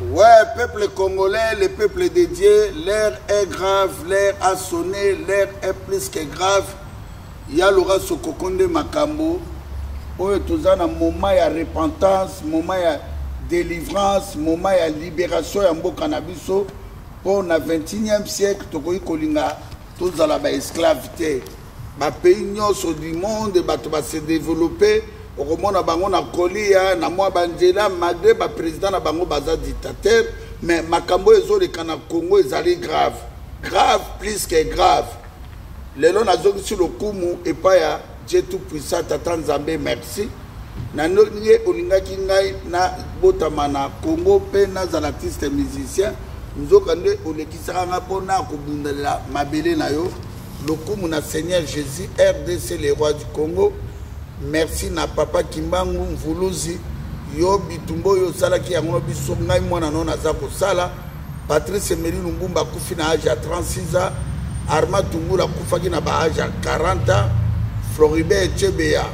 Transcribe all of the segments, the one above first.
Ouais, peuple congolais, le peuple de Dieu, l'air est grave, l'air a sonné, l'air est plus que grave. Ya lora sokokonde makambo. Oyo toza na moment ya repentance, moment ya délivrance, moment ya libération ya mboka na biso. Pour na 21e siècle, tokoki kolinga tozala ba esclaves te. ba pays nyonso du monde bato ba se développer okomona bango na kolia na mwa banzela malgré baprésident na bango baza dictateur mais makambo oyo ezoleka na congo ezali grave grave plus que grave lelo nazongisi lokumu epai ya je tout puissant tata nzambe merci na ndenge olingaki ngai nabotama na congo mpe nazala artiste musicien nzoka nde olekisaka ngai mpo na kobundelela mabele na yo Lokumu na Seigneur Jesus, RDC le roi du Congo. Merci na papa Kimbangu Mvuluzi. Yo bitumba oyo osalaki yango na biso ngai mwana no naza kosala. Patrice Emery Lumbumba akufi na age ya 36 ans. Arma Tungula akufaki na ba age ya 40 ans. Floribert Echebeya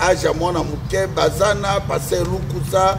age ya mwana moke bazana Pasteur Lukusa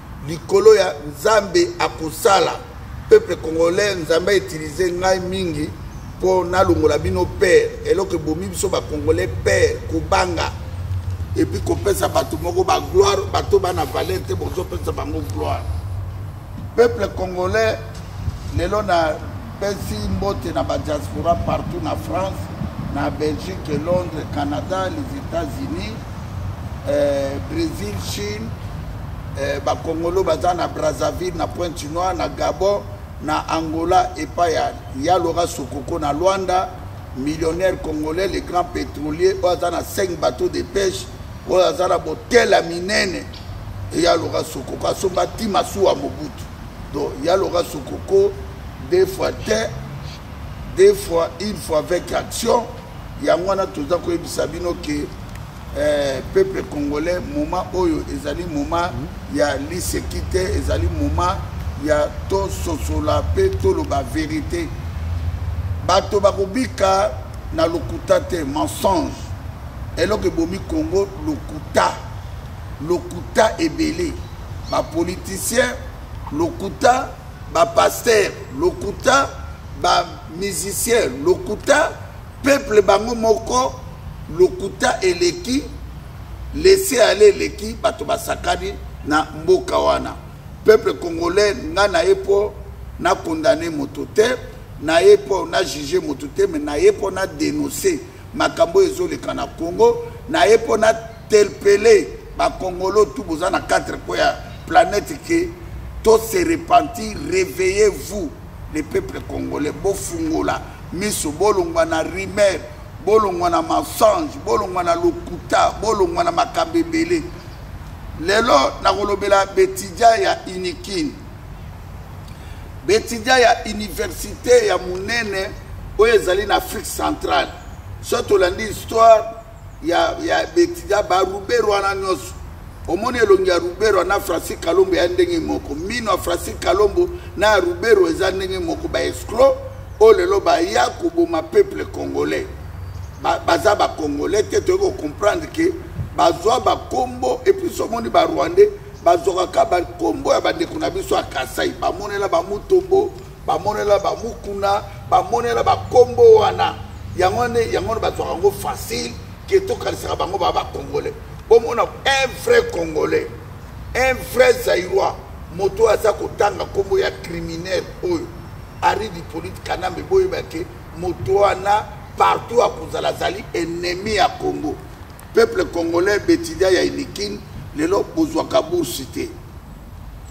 likolo ya nzambe akosala peuple congolais nzambe a utiliser ngai mingi mpo nalongola bino père eloko ebomi biso bacongolais père kobanga epuis kopesa bato moko bagloire bato bana valeur te bozopesa bango gloire peuple congolais lelo na Pesi mbote na ba diaspora partout na France, na Belgique, Londres, Canada, les États-Unis, euh, Brésil, Chine, euh, ba Congolo baza na Brazzaville, na Pointe-Noire, na Gabon, na Angola epai ya Yalora Sokoko na Luanda, millionnaire congolais, le grand pétrolier, oyo aza na 5 bateaux de pêche, oyo aza na botela minene, Yalora Sokoko asomba ti masuwa Mobutu. donc ya loka sokoko deux fois te deux fois une fois avec action yango wana toza koyebisa bino ke eh, peuple congolais moment oyo ezali moment mm. ya liseki te ezali moment ya tososola mpe toloba verite bato bakobika na lokuta te mensonge eloko ebomi congo lokuta lokuta ebele ba politiciens lokuta ba pasteurs lokuta ba musiciens lokuta peuple bango moko lokuta eleki lese ale eleki bato basakani na mboka wana peuple congolais nga na ye mpo na condamne moto te na ye mpo na juge moto te me na ye mpo na denonce makambo oyo ezoleka na congo na ye mpo na interpele bakongolo tu boza na 4 po ya planète ke to se repentir réveillez vous le peuple congolais bofungola miso bolongwa na rumeur bolongwa na mensonge bolongwa na lokuta bolongwa na makambo ebele lelo nakolobela betidia ya unikin betidia ya université ya monene oyo ezali na afrique centrale so tolandi histoire ya ya betida ba ruberu wana nyonso omoni elongi ya ruberu na francis kalombo ya ndenge moko mino ya francis kalombo na ya ruberu eza ndenge moko ba esclo oyo lelo baya koboma peuple congolais baza ba bacongolais te toyei kocomprendre ke bazwa bakombo epuis omoni barwandais bazwaka ka bakombo ya bandeko na biso ya kasai bamonela bamutombo bamonela bamukuna bamonela bakombo wana yango wana yango wana bazwaka yango facile ke tokanisaka bango baa bacongolais bomona un vrai congolais un vrai zairois moto oyo aza kotanga nkombo ya criminel oyo ari dipolite kanambe boyeba ke moto wana partout akozala azali ennemi ya congo peuple congolais betidia ya inikine lelo bozwaka bourse te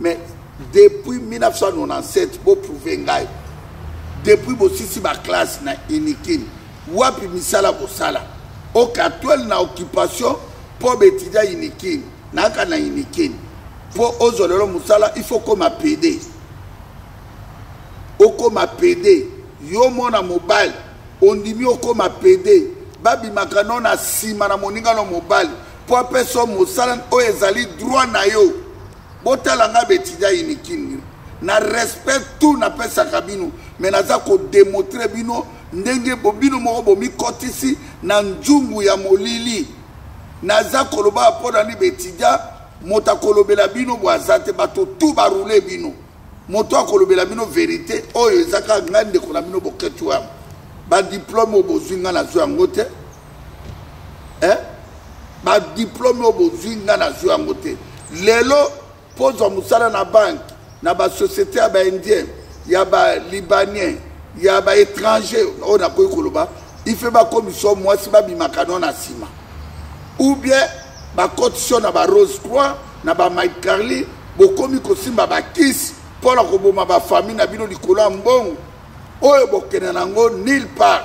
mais depuis 1997 boprouve ngai depuis bosisi baklasse na unikin wapi misala bosala okatwel na occupation mpo betidia unikin naka na unikin mpo ozwa lelo mosala il faut okoma pede okoma pede yo mwana mobali ondimi okoma pede babimaka no na nsima na moninga no mobali mpo apesa mosala oyo ezali droit na yo botala ngai betida inikini na respect tout napesaka bino me naza kodemontre bino ndenge bino moko bomikotisi na nzungu ya molili naza koloba mpo na nini betida moto akolobela bino bwaza te bato tu barule bino moto akolobela bino verite oyo ezaka ngai ndeko na bino boketi wana badiplome oyo bozwi ngai nazwi yango te eh? badiplome oyo bozwi nga nazwi yango te lelo mpo ozwa mosala na banke na basociété ya baindien ya balibanien ya baétranger oyo nakoki koloba ife bakomisa yo mwasi babimaka no na nsima ou bien bakotisi yo na barose croix na bamike carly bokomi kosimba bakisi mpo na koboma bafamille na bino likolo ya mbongo oyo bokende na yango nil part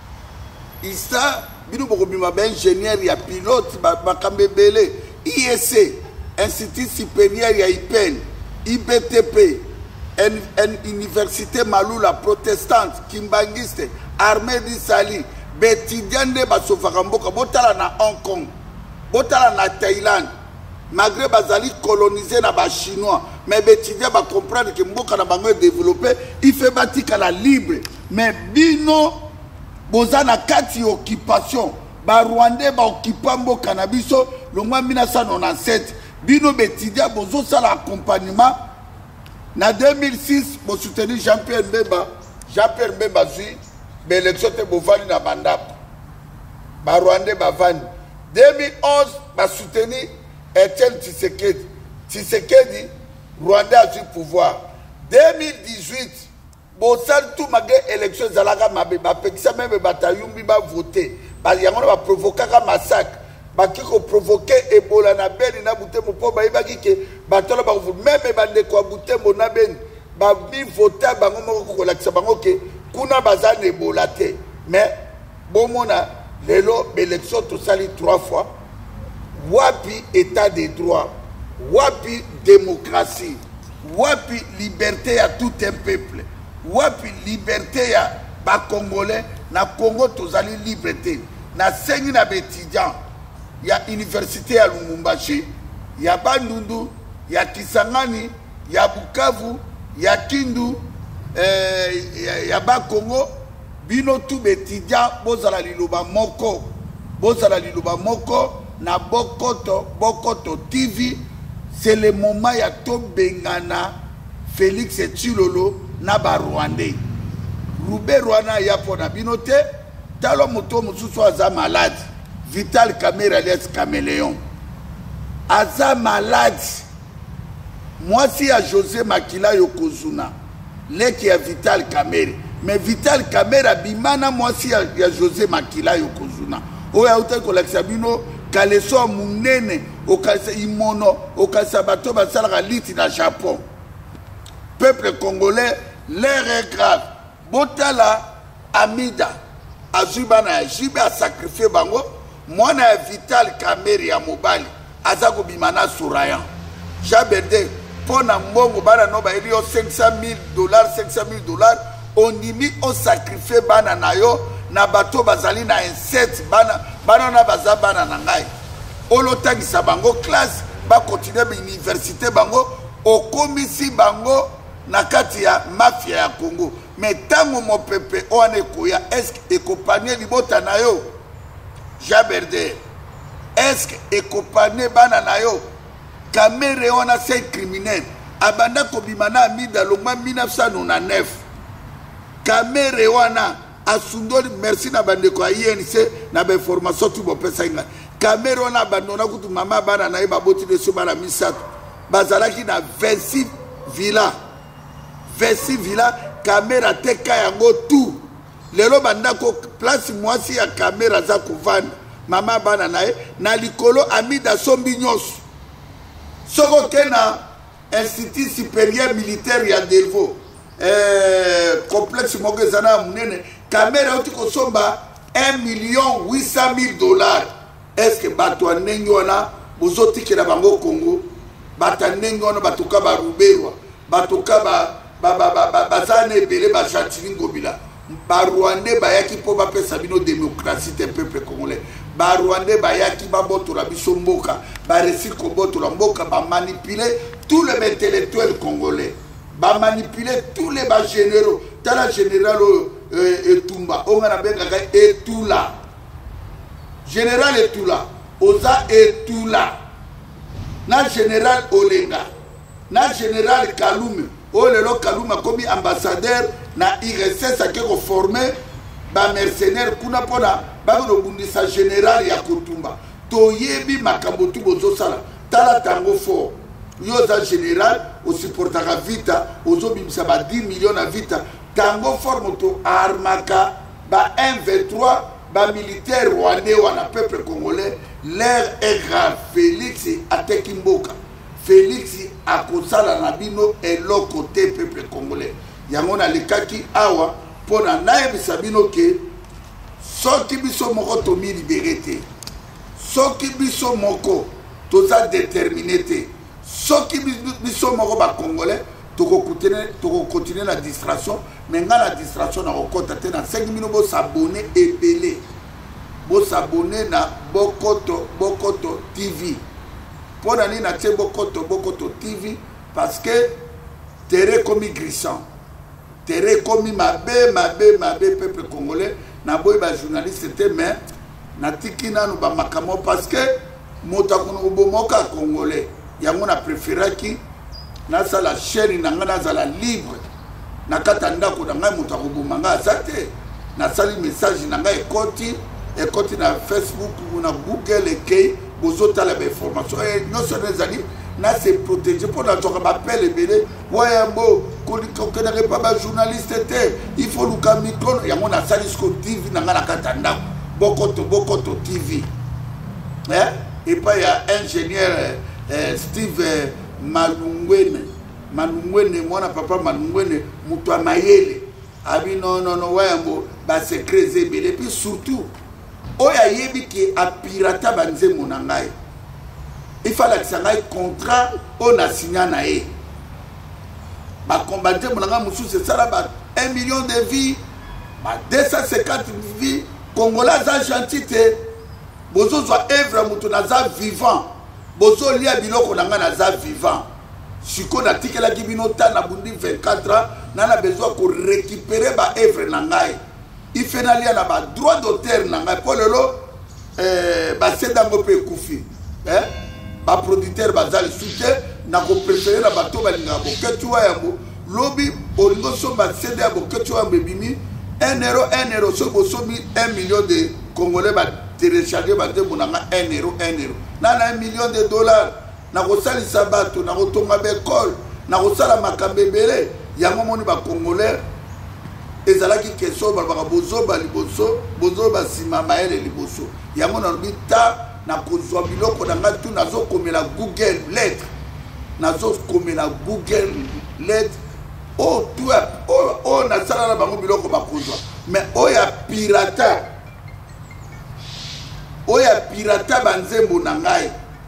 isa bino bokobima ba ingénieur ya pilote makambo ebele iec institut supérieur ya ipel ibtp en, en université malula protestante kimbangiste armée du sali betidia nde basofaka mboka botala na hong kong botala na thaïlande malgré bazali colonise na bachinois mais betidia bacomprendre ke mboka na bango edeveloppe ife batikala libre mais bino boza na kati ya occupation barwandais baokipa mboka na biso longwa 1997 bino betidia bozosala accompagnement na 2006 bosoutenir jean pierre mbemba jean pierre mbemba azwi baélection te bovandi na bandako barwandais bavandi 2011 basoutenir etienne tshisekedi tshisekedi rwandais azwi pouvoir 2018 bosali tout malgré élection ezalaka mabe bapekisa meme bato ya yumbi bavote yango na baprovokaka massacre baki koprovoke ebola na beni na butembo mpo bayebaki ke bato wana bakovu meme bandeko ya butembo na beni bamivota bango moko kolakisa bango ke kuna baza na ebola te mais bomona lelo baélection tosali trois fois wapi état de droit wapi démocratie wapi liberté ya tout un peuple wapi liberté ya bacongolais na congo tozali libre te nasengi na baétudiant ya université ya lumumbashi ya bandundu ya kisangani ya bukavu ya kindu eh, ya, ya bakongo bino tu betidia bozala liloba moko bozala liloba moko na bokoto bokoto tv c'est le moment ya tobengana félix tshilolo na barwandais ruberu wana aya mpo na bino te tala moto mosusu aza malade vital camere alias cameleon aza malade Mwasi ya Jose makila yo kozuna leki ya Vital Kamere mais Vital Kamere abima na mwasi ya, ya Jose makila yo kozuna oyo autaki kolakisa bino kaleso ya monene okanisa imono okanisa bato basalaka liti na Japon peuple congolais l'air est grave botala amida azwi bana ya jibe asakrifie bango mwana ya vital kamere ya mobali aza kobima na sourayan jaberde mpo na mbongo bana no bayeli yo 500 000 dollars 500 000 dollars ondimi osakrifie bana na yo na bato bazali na insete bana bana wana baza bana na ngai olotangisa bango classe bakontinue bauniversité bango okomisi bango na kati ya mafia ya congo me ntango mopepe oyo wana ekoya eske ekopanie libota na yo jean berder eske ekopanie bana na yo kamere wana se criminel abanda kobima na amida longwa 1999 kamere wana asundoli merci na bandeko ya inc na bainformation tu bopesaki ngai kamere wana abandona kutu mama bana na ye baboti leso bana misato bazalaki na 26 villa 26 villa kamere ateka yango tu lelo bandako place mwasi ya kamere aza kovanda mama bana na ye na likolo amida asombi nyonso soki oke na institut supérieur militaire ya delvaux eh, complexe moko eza na monene kamere auti kosomba 1 million 800 000 dollars estce bato ya ndenge wana bozotikela bango congo bato ya ndenge wana batoka baruberwa batoka baza na ebele bajantini ngobila barwandais bayaki mpo bapesa bino demokrasi te peuple congolais barwandais bayaki babotola biso mboka baresi kobotola mboka bamanipule tout le intellectuel congolais ba manipuler tous les ba généraux tala général oyo euh, etumba oyo nga nabengaka etula général etula oza etula na général olenga na général kalume oyo lelo kalume akomi ambassadeur na irss ake koforme bamercenaire kuna mpona bakobundisa général ya kotumba toyebi makambo tu bozosala tala tango fort yo oza général osupportaka vita ozobimisa ba 10 million na vita tango fort moto armaka ba 123 bamilitaire rwandais wana peuple congolais l'air est grave félix ateki mboka félix akosala na bino eloko te peuple congolais yango nalekaki awa mpo na nayebisa bino ke soki biso moko tomilibere te soki biso moko toza determine te soki biso moko bacongolais tokokontinue na distraction me ngai na distraction nakokɔta te nasengi bino bosabone ebele bosabone na bokoto bokoto tv mpo na nini natie bokoto bokoto tv parce que tere ekomi grissant tere ekomi mabe mabe mabe peuple congolais naboyi bajournaliste te mais natiki nanu bamakambo parce que moto akona kobomoka congolais yango na preferaki nasala chaine na ngai nazala libre na kati ya ndako na ngai moto akoboma ngai aza te nasali message na ngai ekoti ekoti na facebook na google ekei bozotala bainformation eh, nyonso wana ezali na se protege mpo nazwaka bapele ebele wayambo kokendaka epa bajournaliste te il faut luka micro yango nasali siko tv na ngai na kati ya ndako bokoto bokoto tv eh? epai ya ingénieur eh, eh steve eh, malungwene malungwene mwana papa malungwene moto ya mayele abi nonono wayambo basecret eza ebele epuis surtout oyo ayebi ke apirata banzembo na ngai ifa alakisa ngai contrat oyo na signa na ye banzembo na ngai mosusu esala ba 1 million de vie ba 250 vie kongola aza gentil te bozozwa evre ya moto naza vivant bozolia biloko na ngai naza vivant sikoyo natikelaki bino ta nabundi 24 ans na na besoin korekipere baevre na ngai ife nalia na ba droit d'auteur na ngai mpo lelo eh, baseda yango mpe ekufi eh? baproducteur baza lisusu te na koprefere na bato balingaka boketi wa yango lobi olingi osomba sede ya boketi wa yango ebimi 1 euro 1 euro soki bosombi 1 million de congolais batelecharge banzembo na nga 1 euro 1 euro na na 1 million de dollars nakosalisa bato nakotonga baekole nakosala makambo ebele yango omoni bacongolais ezalaki kestion oyo balobaka bozoba liboso bozoba nsima mayele liboso yango nalobi ta nakozwa biloko na ngai tu nazokomela google lettre nazokomela google lettre oyo tu oyo nasala na bango biloko bakozwa mais oyo ya pirata oyo ya pirata banzembo na ngai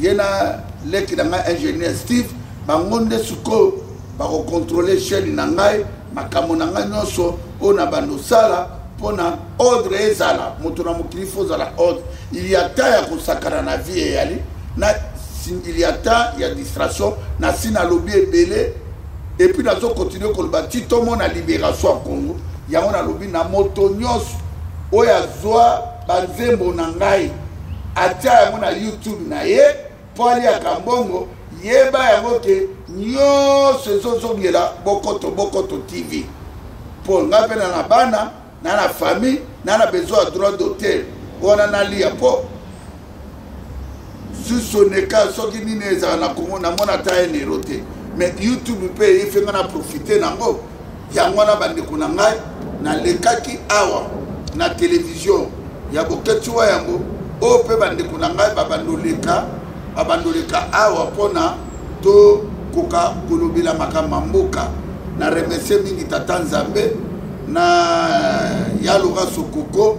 ye na leki na ngai ingénieur steve bango nde sikoyo bakokontrole chaine na ngai makambo na ngai nyonso oyo na bando osala mpo na ordre ezala moto na mokili fo ozala ordre il y a temps ya kosakana na vie eyali na il y a temps ya distraction nasi nalobi ebele epuis nazo continue koloba ti tomona libération ya congo yango nalobi na moto nyonso oyo azwa banzembo na ngai atya yango na youtube na ye mpo aliaka mbongo yeba yango ke nyonso ezozongela bokoto bokoto tv mpo ngai mpe na na bana na na famille na na besoin ya droit d'auteur wana naliya mpo susoneka soki nini ezala na kongo namona ata enero te mais youtube mpe eyefe ngai na profite nango yango wana bandeko na ngai nalekaki awa na televizio ya boketi wa yango oyo mpe bandeko na ngai babandoleka babandoleka awa mpona tokoka kolobela makambo ya mboka na remercie mingi tata nzambe na yaloka sokoko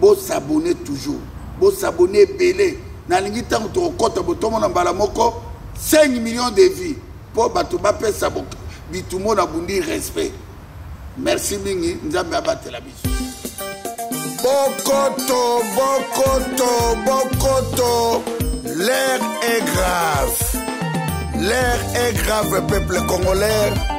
bo s'abonner toujours bo s'abonner ebele nalingi ntango tokokɔta botomona mbala moko 5 millions de vues mpo bato bapesa bitumo na bundi respect merci mingi nzambe abatela biso bokoto bokoto bokoto l'air est grave l'air est grave peuple congolais